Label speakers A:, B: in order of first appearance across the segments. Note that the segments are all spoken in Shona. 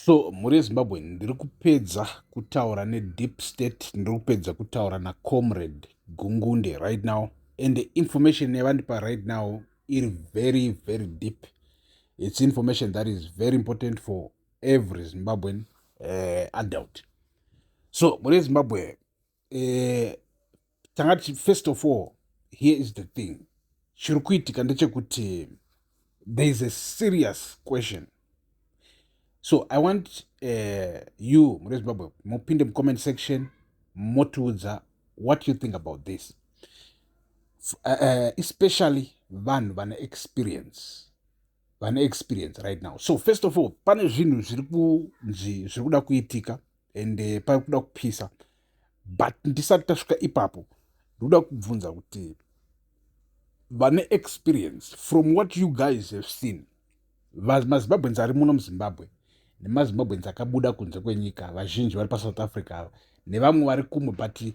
A: So mhuri yeZimbabwe ndiri kupedza kutaura nedeep state, ndiri kupedza kutaura nacomrade Gungunde right now and the information yavandipa right now iri very very deep. It's information that is very important for every Zimbabwean uh, adult. So mhuri yeZimbabwe eh, tanga tichi first of all here is the thing chiri kuitika ndechekuti there is a serious question so i want uh, you mune zimbabwe mupinde mucomment section motiudza what you think about this uh, uh, especially vanhu vane experience vane experience right now so first of all pane zvinhu zviri kunzi zviri kuda kuitika and eh, pari kuda kupisa but ndisati tasvika ipapo ndoda kubvunza kuti vane experience from what you guys have seen mazimbabweans ari muno muzimbabwe nemazimbabweans akabuda kunze kwenyika vazhinji vari pasouth africa ava nevamwe vari kumwe but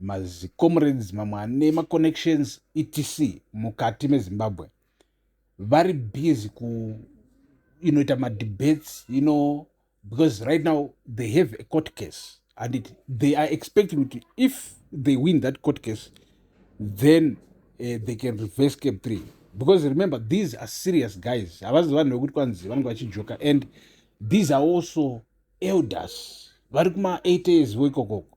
A: mazicomrades mamwe ane maconnections etc mukati mezimbabwe vari busy kuinoita you know, madebates you know because right now they have a court case and it, they are expecting kuti if they win that court case then uh, they can reverse cap three because remember these are serious guys havazi vanhu vekuti kwanzi vanenge vachijoka and these are also elders vari kuma eight years vo ikokoko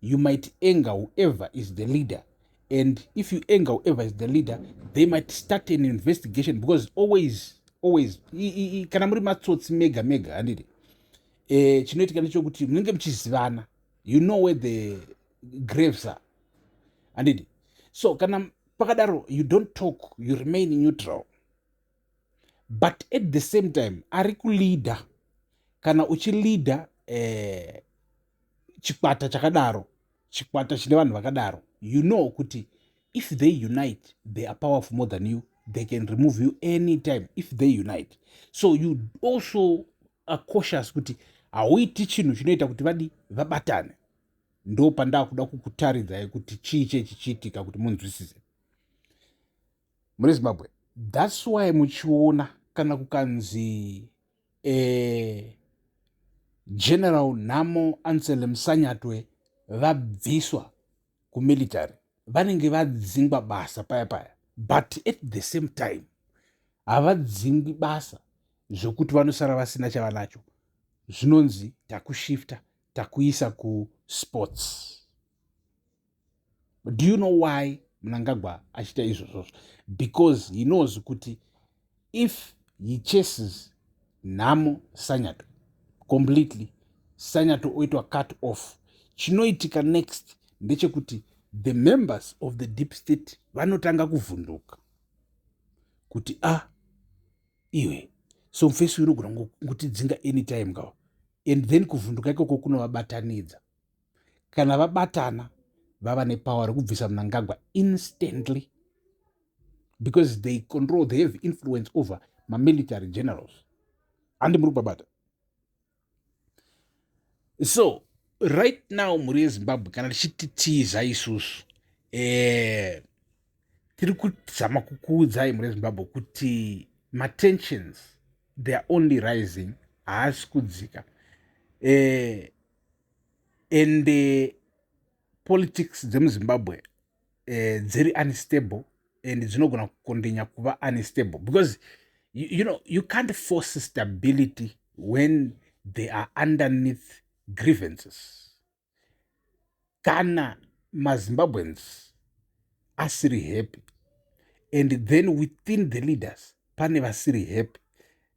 A: you might anger whoever is the leader and if you anger whoever is the leader they might start an investigation because always always kana muri matsotsi mega mega handiti eh, chinoitika nechokuti munenge muchizivana you know where the graves are handiti so kana pakadaro you don't talk you remain neutral but at the same time ari kuleader kana uchileader eh, chikwata chakadaro chikwata chine vanhu vakadaro you know kuti if they unite they are powerful more than you they can remove you any time if they unite so you also are cautious kuti hauiti chinhu chinoita kuti vadi vabatane ndo pandakuda kukutaridzai kuti chii chee chichiitika kuti munzwisise mune zimbabwe thats why muchiona kana kukanzi eh, general nhamo ansele musanyatwe vabviswa kumilitary vanenge vadzingwa basa paya paya but at the same time havadzingwi basa zvekuti vanosara vasina chavanacho zvinonzi takushifta takuisa kusports do you know why mnangagwa achiita izvozvozvo because he knows kuti if he chases nhamo sanyato completely sanyato oitwa cut off chinoitika next ndechekuti the members of the deep state vanotanga kuvhunduka kuti a ah, iwe so mfesi unogona kutidzinga anytime kawa and then kuvhunduka ikoko kunovabatanidza kana vabatana vava nepower rekubvisa mnangagwa instantly because they control they have influence over mamilitary generals handi muri kubabata so right now mhuri yezimbabwe kana tichiti tiza isusu eh, tiri kuzama kukuudzai mhuri yezimbabwe kuti matensions they are only rising haasi kudzika eh, and uh, politics dzemuzimbabwe uh, dziri unstable and dzinogona kukondinya kuva unstable because you, you know you can't force stability when they are underneath grievances kana mazimbabweans asiri happy and then within the leaders pane vasiri happy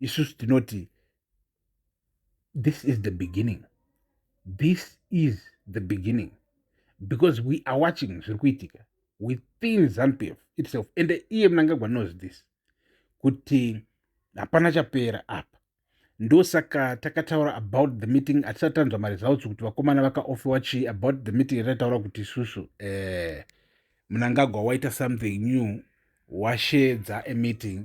A: isusu tinoti this is the beginning this is the beginning because we are watching zviri kuitika within zanupf itself and iye mnangagwa knows this kuti hapana chapera apa ndosaka takataura about the meeting hatisati tanzwa maresults kuti vakomana vakaofewa chii about the meeting yataitaura kuti isusu eh, mnangagwa waita something new washedza emeeting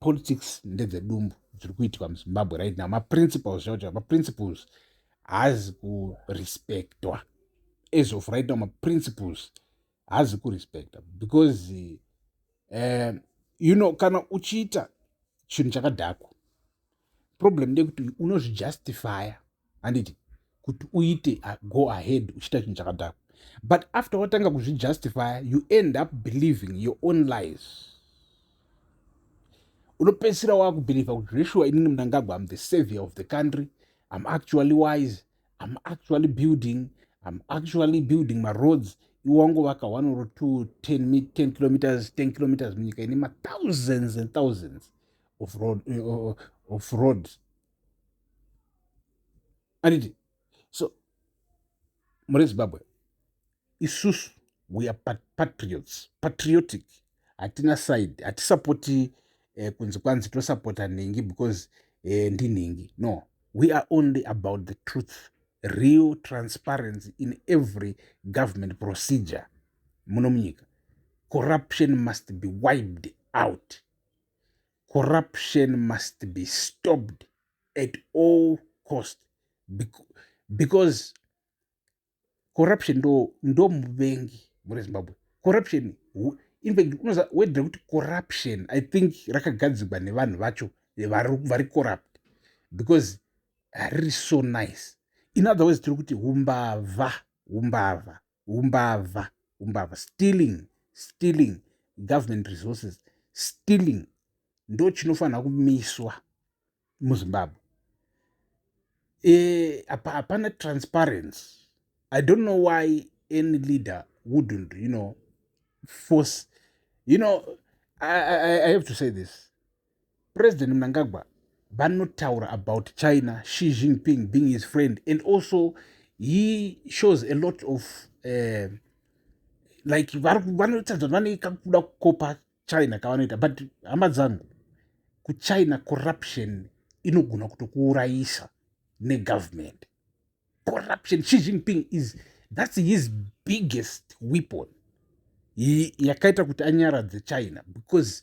A: politics ndedzedumbu dziri kuitika muzimbabwe right now maprinciples zvakuti maprinciples haazi kurespectwa as of right now maprinciples haazi kurespecta because uh, you know kana uchiita chinhu chakadhakwa problem ndekuti unozvijustifya handiti kuti uite uh, go ahead uchiita chinhu chakadhakwa but after watanga kuzvijustifya you end up believing your own lies unopedzisira wakubhilivha kuti zveshuwa inini munangagwa am the savior of the country am actually wise am actually building am actually building maroads iwangovaka one or two ten, ten kilometers ten kilometers munyika ine mathousands and thousands of road, eh, oh, oh, of road. anditi so muri zimbabwe isusu we are pat patriots patriotic hatina side hatisapoti eh, kunzi kwanzi tosapota nhingi because eh, ndinhingi no we are only about the truth real transparency in every government procedure muno munyika corruption must be wiped out corruption must be stopped at all cost because corruption ndo ndo muvengi muri zimbabwe corruption in fact unoza wedira kuti corruption i think rakagadzirwa nevanhu vacho vari corrupt because hariri so nice in other words tiri kuti umbavha umbavha humbavha humbavha stealing stealing government resources stealing ndo chinofanira kumiswa muzimbabwe eh, hapana e, transparency i don't know why any leader wouldn't you know force you know i, I, I have to say this President Mnangagwa vanotaura about China, Xi Jinping being his friend and also he shows a lot of uh, like vanoita zvat vane kakuda kukopa China kavanoita but hama dzangu kuchina corruption inogona kutokuurayisa negovernment corruption Xi Jinping is that's his biggest weapon yakaita kuti anyaradze China because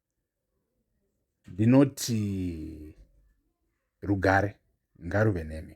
A: ndinoti rugare ngaruve nemi.